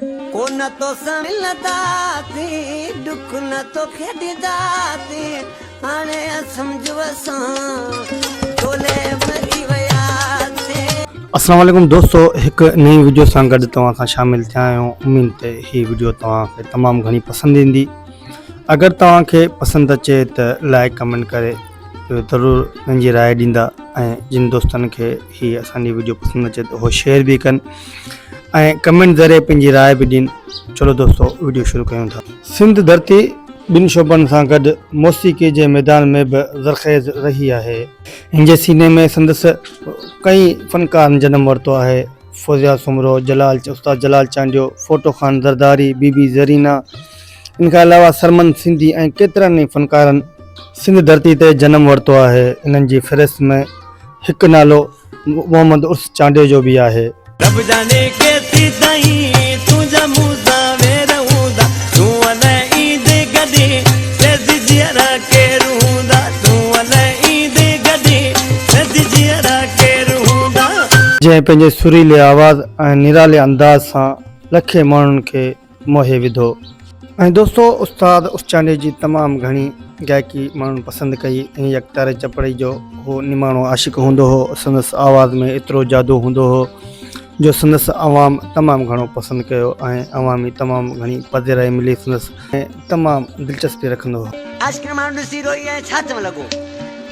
ڪو نه توسان ملنداسين ڏک نه توکي ڏينداسين هاڻي سمجهه اسان ٽولي مري وياسين. السلام عليڪم دوستو هڪ نئين وڊيو سان گڏ توهان سان شامل ٿيا آهيون اميد تي هي وڊيو توهان کي تمام گهڻي پسند ايندي اگر توهان کي پسند اچي ته لائڪ ڪمينٽ ڪري ضرور پنهنجي راء ڏيندا ۽ جن دوستن کي کي اسان جي ويڊيو پسند اچي ته هو شيئر به ڪن ۽ ڪمنٽ ذريعي پنهنجي راء به ڏين چلو دوستو ويڊيو شروع ڪيون ٿا سنڌ ڌرتي ٻن شعبن سان گڏ موسيقي جي ميدان ۾ به زرخيز رهي آهي هن جي سيني ۾ سندس ڪئين فنڪارن جنم ورتو آهي فوزيا سومرو جلال استاد جلال چانڊيو ڦوٽو خان زرداري بي بي زرينا ان کان علاوه سرمن سنڌي ۽ ڪيترن ئي فنڪارن سنڌ ڌرتي تي جنم ورتو آهي. انهن جي فهرست ۾ هڪ نالو محمد عرس چانڊيو جو به آهي. رب جاڻي ڪيسي تائين تنهنجا مون سان وير هوندا تون الئه ايندي ڪڏهن سيد جيئرا ڪير هوندا تون الئه ايندي ڪڏهن سيد جيئرا ڪير هوندا. جنهن پنهنجي سريلي آواز ۽ نرالي انداز سان لکين ماڻهن کي موهي وڌو. ۽ دوستو استاد اسچاني جي تمام گهڻي گائڪي ماڻهن پسند ڪئي ۽ يڪتاري چپڙئي جو هو نماڻو عاشق هوندو هو سندس آواز ۾ ايترو جادو هوندو هو جو سندس عوام تمام گهڻو پسند ڪيو ۽ عوامي تمام گهڻي پذيرائي ملي سندس ۾ تمام دلچسپي رکندو هو. عاشقين ماڻهو ڏسي روئي ۽ ڇا چون لڳو.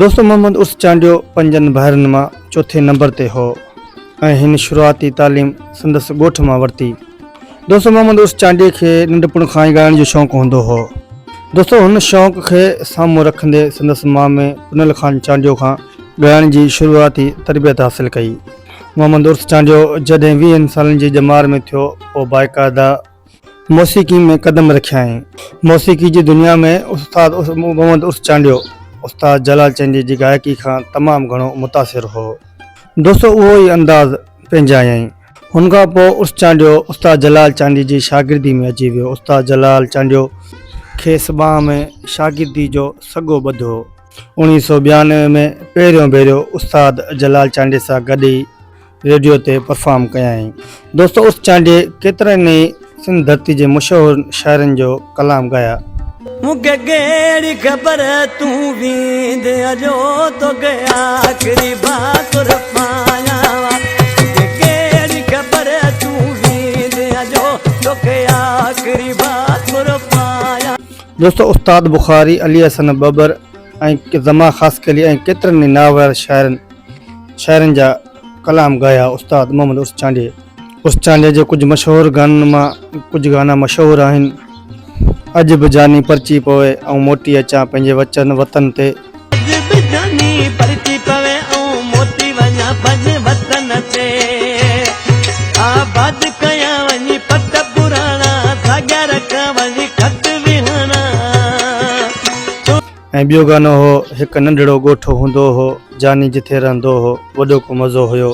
دوست محمد عرس چانڊيو پنجن ڀائرن مان چوٿين نمبر تي هو ۽ هن شروعاتي تعليم سندس ڳوٺ مان ورتي. دوست محمد عرس چانڊيي کي ننڍپڻ کان ئي ڳائڻ جو شوق هوندو هو. دوستو هن شوق کي سامهون رکندي سندس مامي پنهل خان چانڊيو کان ڳائڻ جي شروعاتي تربيت حاصل ڪئي. محمد عرس چانڊيو جڏهن ويهن سالن جي ڄمار ۾ ٿيو پوء باقاعده موسيقي ۾ قدم رکيائين. موسيقي جي دنيا ۾ استاد محمد عرف چانڊيو استاد جلال چانڊيي جي گائڪي کان تمام گهڻو متاثر هو. دوستو اهو ئي انداز پنهنجايائين. هن کان پوء عرف چانڊيو استاد جلال چانڊيي جي شاگردي ۾ اچي ويو. استاد جلال چانڊيو. کيس ٻانهن ۾ شاگردي جو سڳو ٻڌ هو. اڻيهه سؤ ٻيانوي ۾ پهريون ڀيرو استاد جلال چانڊيي سان گڏ ئي ريڊيو تي پرفارم ڪيائين. دوست عرس چانڊيي ڪيترن ئي سنڌ ڌرتي جي مشهور شاعرن جو ڪلام ڳايا. مون کي ڪهڙي خبر تون ويندي اجو توکي آخري ڀاڪر پايان وا مون کي ڪهڙي خبر تون ويندي اجو توکي آخري ڀاڪر پايان. دوست استاد بخاري، علي حسن ٻٻر ۽ زمان خاصخيلي ۽ ڪيترن ئي ناهوار شاعرن. شاعرن جا ڪلام ڳايا استاد محمد عرس چانڊيي. عرس چانڊيي جي ڪجهه مشهور گانن مان ڪجهه گانا مشهور آهن، اڄ به جاني پرچي پوي ائون موٽي اچان پنهنجي وچن وطن تي. اڄ به جاني پرچي پوي ائون موٽي وڃان پنهنجي وطن تي. آباد ڪيان وڃي پٽ پراڻا ساڳيا رکان وڃي خط ويهاڻا. ۽ ٻيو گانو هو، هڪ ننڍڙو ڳوٺ هوندو هو، جاني جٿي رهندو هو، وڏو ڪو مزو هيو.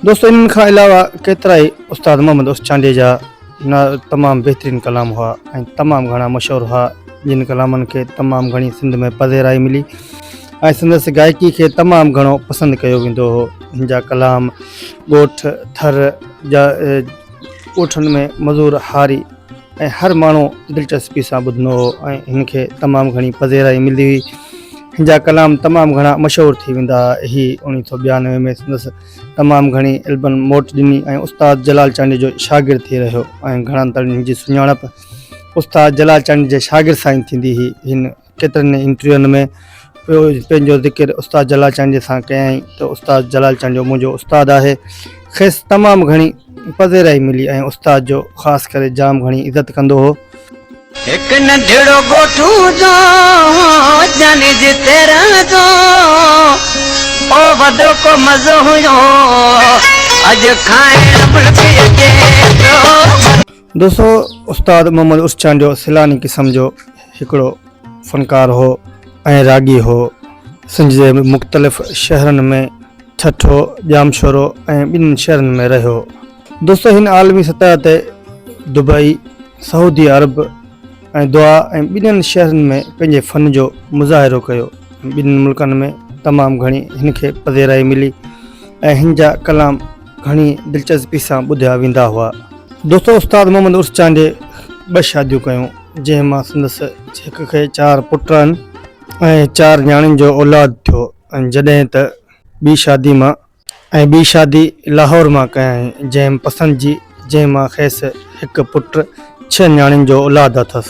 دوستو انهن کان علاوه ڪيترائي استاد محمد عرف چانڊيي جا تمام بهترين ڪلام هئا ۽ تمام گهڻا مشهور هئا جن ڪلامن کي تمام گهڻي سنڌ ۾ پذيرائي ملي ۽ سندس گائڪي کي تمام گهڻو پسند ڪيو ويندو هو هن جا ڪلام ڳوٺ ٿر جا ڳوٺن ۾ مزور هاري ۽ هر ماڻهو دلچسپي سان ٻڌندو هو ۽ هن کي تمام گهڻي پذيرائي ملندي هئي. هن جا ڪلام تمام گهڻا مشهور ٿي ويندا ها. هي اوڻيهه سؤ ٻيانوي ۾ سندس تمام گهڻي البن موٽ ڏني ۽ استاد جلال چانڊيو جو شاگرد ٿي رهيو ۽ گهڻن تائين هن جي سڃاڻپ استاد جلال چانڊيو جي شاگرد سان ئي ٿيندي هئي. هن. ڪيترن ئي انٽرويوئن ۾ پنهنجو ذڪر استاد جلال چانڊيي سان ڪيائين ته استاد جلال چانڊيو منهنجو استاد آهي، کيس تمام گهڻي پذيرائي ملي ۽ استاد جو خاص ڪري جام گهڻي عزت ڪندو هو. هڪ ننڍڙو ڳوٺ هوندو هو جاني جتي رهندو هو وڏو ڪو مزو هيو اڄ کائڻ ملڪي جيترو. دوستو استاد محمد عرس چانڊيو سيلاني قسم جو هڪڙو فنڪار هو ۽ راڳي هو. سنڌ جي مختلف شهرن ۾ ٺٽو، ڄامشورو ۽ ٻنهن شهرن ۾ رهيو. دوستو هن عالمي سطح تي دبئي، سعودي عرب ۽ دوحا ۽ ٻنهن شهرن ۾ پنهنجي فن جو مظاهرو ڪيو ۽ ٻنهن ملڪن ۾ تمام گهڻي هن کي پذيرائي ملي ۽ هن جا ڪلام گهڻي دلچسپي سان ٻڌيا ويندا هئا. دوستو استاد محمد عرس چانڊيي ٻه شاديون ڪيون جنهن مان سندس هڪ کي چار پٽ ۽ چار نياڻين جو اولاد ٿيو ۽ جڏهن ته ٻي شادي مان ۽ ٻي شادي لاهور مان ڪيائين جنهن پسند جي جنهن مان کيس هڪ پٽ ڇهه نياڻين جو اولاد اٿس.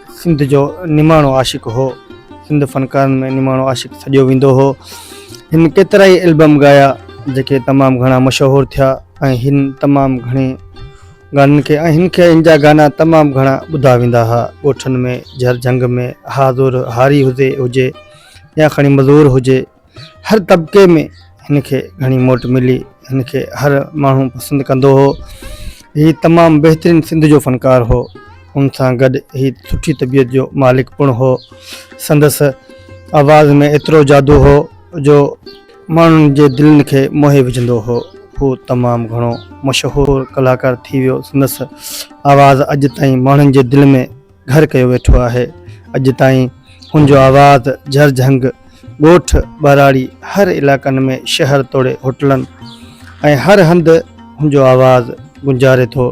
سنڌ جو نماڻو عاشق هو. سنڌ فنڪارن ۾ نماڻو عاشق سڏيو ويندو هو. هن ڪيترائي البم ڳايا جيڪي تمام گهڻا مشهور ٿيا ۽ هن تمام گهڻي گانن کي ۽ هن کي هن جا گانا تمام گهڻا ٻڌا ويندا ها ڳوٺن ۾ جهر جهنگ ۾ هازور هاري هزي هجي يا کڻي مزور هجي هر طبقي ۾ هن کي گهڻي موٽ ملي. هن کي هر ماڻهو پسند ڪندو هو. هي تمام بهترين سنڌ جو فنڪار هو. ان سان گڏ هي سٺي طبيعت جو مالڪ پڻ هو. سندس آواز ۾ ايترو جادو هو جو ماڻهن جي دلين کي موهي وجهندو هو. هو تمام گهڻو مشهور ڪلاڪار ٿي ويو. سندس آواز اڄ تائين ماڻهن جي دل ۾. گهر ڪيو ويٺو آهي. اڄ تائين ان جو آواز جهرجهنگ ڳوٺ، ٻهراڙي هر علائقن ۾ شهر توڙي هوٽلن ۽ هر هنڌ ان جو آواز گونجاري ٿو.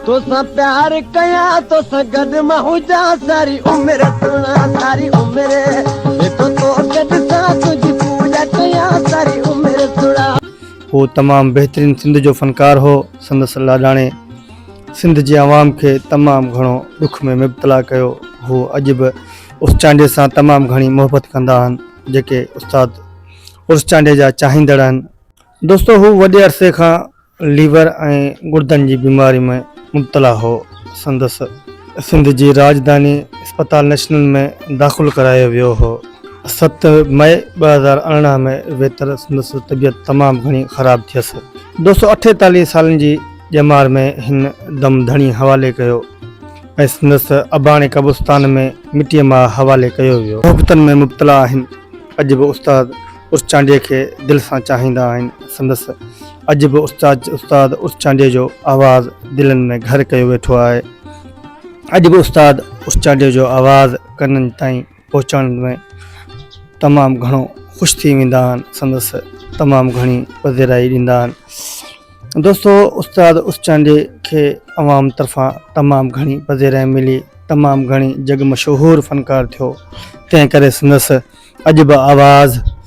توسان پيار ڪيان توسان گڏ مان هجان ساري عمر سڻان ساري عمر جيڪو توکي ڏسان تنهنجي پوڄا ڪيان ساري عمر سڻان. هو تمام بهترين سنڌ جو فنڪار هو. سندس لاڏاڻي. سنڌ جي عوام کي تمام گهڻو ڏک ۾ مبتلا ڪيو هو اڄ به عرس چانڊيي سان تمام گهڻي محبت ڪندا آهن جيڪي استاد عرس چانڊيي جا چاهيندڙ آهن. دوستو هو وڏي عرصي کان ليور ۽ گڙدن جي بيماري ۾ مبتلا هو سندس سنڌ جي راڄڌاني اسپتال نيشنل ۾ داخل ڪرايو ويو هو ست مئي ٻه هزار ارڙهن ۾ ويتر سندس طبيعت تمام گهڻي خراب ٿيس دوستو اٺيتاليهه سالن جي ڄمار ۾ هن دم ڌڻي حوالي ڪيو ۽ سندس اباڻي قبرستان ۾ مٽيء ماء حوالي ڪيو ويو. محبتن ۾ مبتلا آهن. اڄ به استاد عرس چانڊيي کي دل سان چاهيندا آهن. سندس اڄ به استاد استاد عرس چانڊيي جو آواز دلن ۾ گهر ڪيو ويٺو آهي. اڄ به استاد عرس چانڊيي جو آواز ڪنن تائين پهچڻ ۾ تمام گهڻو خوش ٿي ويندا آهن سندس تمام گهڻي پذيرائي ڏيندا آهن دوستو استاد اسچانڊي کي عوام طرفان تمام گهڻي پذيرائي ملي تمام گهڻي جڳ مشهور فنڪار ٿيو تنهن ڪري سندس اڄ به آواز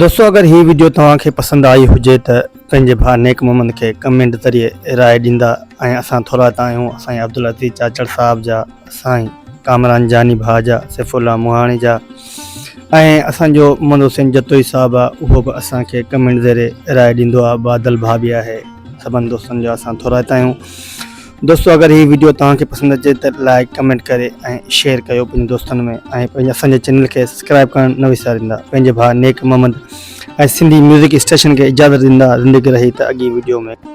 دوستو اگر هي وڊيو توهان کي پسند آئي هجي ته پنهنجي ڀاء نيڪ محمد کي ڪمينٽ ذريعي راء ڏيندا ۽ اسان ٿورائتا آهيون اسائين عبدالعزيز چاچڙ صاحب جا سائين ڪامران جاني ڀاء جا سيف الله مهاڻي جا ۽ اسان جو محمد حسين جتوئي صاحب آ اهو به اسان کي ڪمينٽ ذريعي راء ڏيندو آ بادل ڀاء به آهي سڀن دوستن جا اسان ٿورائتا آهيون دوستو اگر هي ويڊيو توهان کي پسند اچي ته لائڪ ڪمينٽ ڪري ۽ شيئر ڪيو پنهنجي دوستن ۾ ۽ پنهنجي اسان جي چينل کي سبسڪرائب ڪرڻ نه وساريندا پنهنجي ڀاء نيڪ محمد ۽ سنڌي ميوزڪ اسٽيشن کي اجازت ڏيندا زندگي رهي ته اڳي ويڊيو ۾